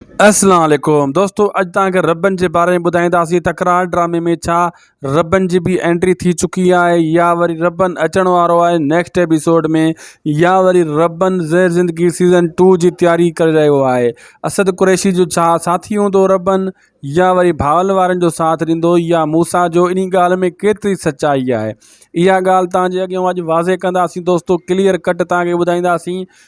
اسلام عليڪم دوستو اڄ تان کي ربن جي باري ۾ ٻڌائيندا سي تڪرار ڊرامي ۾ ڇا ربن جي به انٽري ٿي چڪي آهي يا وري ربن اچڻ وارو آهي نيڪسٽ ايپيسوڊ ۾ يا وري ربن زهر زندگي سيزن 2 جي تياري ڪري رهيو آهي اسد قريشي جو ڇا ساٿي هوندو ربن يا وري ڀاول وارن جو ساٿ ڏيندو يا موسا جو اني ڳالهه ۾ ڪيتري سچائي آهي اها ڳالهه تان جي اڳيان اڄ واضح ڪندا سي دوستو ڪليئر ڪٽ تان کي ٻڌائيندا سي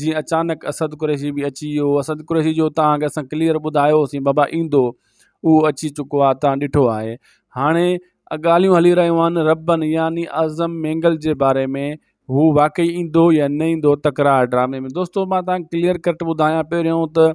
جيئن اچانڪ اسد قريشي به اچي ويو اسد قريشي جو تان کي اسان ڪليئر ٻڌايوسين بابا ايندو اهو اچي چڪو آهي تان ڏٺو آهي هاڻي ڳالهيون هلي رهيون آهن ربن يعني اعظم مينگل جي باري ۾ هو واقعي ايندو يا نه ايندو تڪرار ڊرامي ۾ دوستو مان تان کي ڪليئر ڪٽ ٻڌايان پهريون ته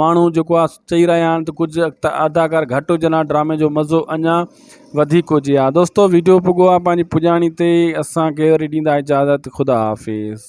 ماڻهو جيڪو آ چئي رهيا آهن ته ڪجهه اداڪار گهٽ هجن ها ڊرامي جو مزو اڃا وڌيڪ هجي ها دوستو ويڊيو پڳو آ پنهنجي پڄاڻي تي اسان کي وري ڏيندا اجازت خدا حافظ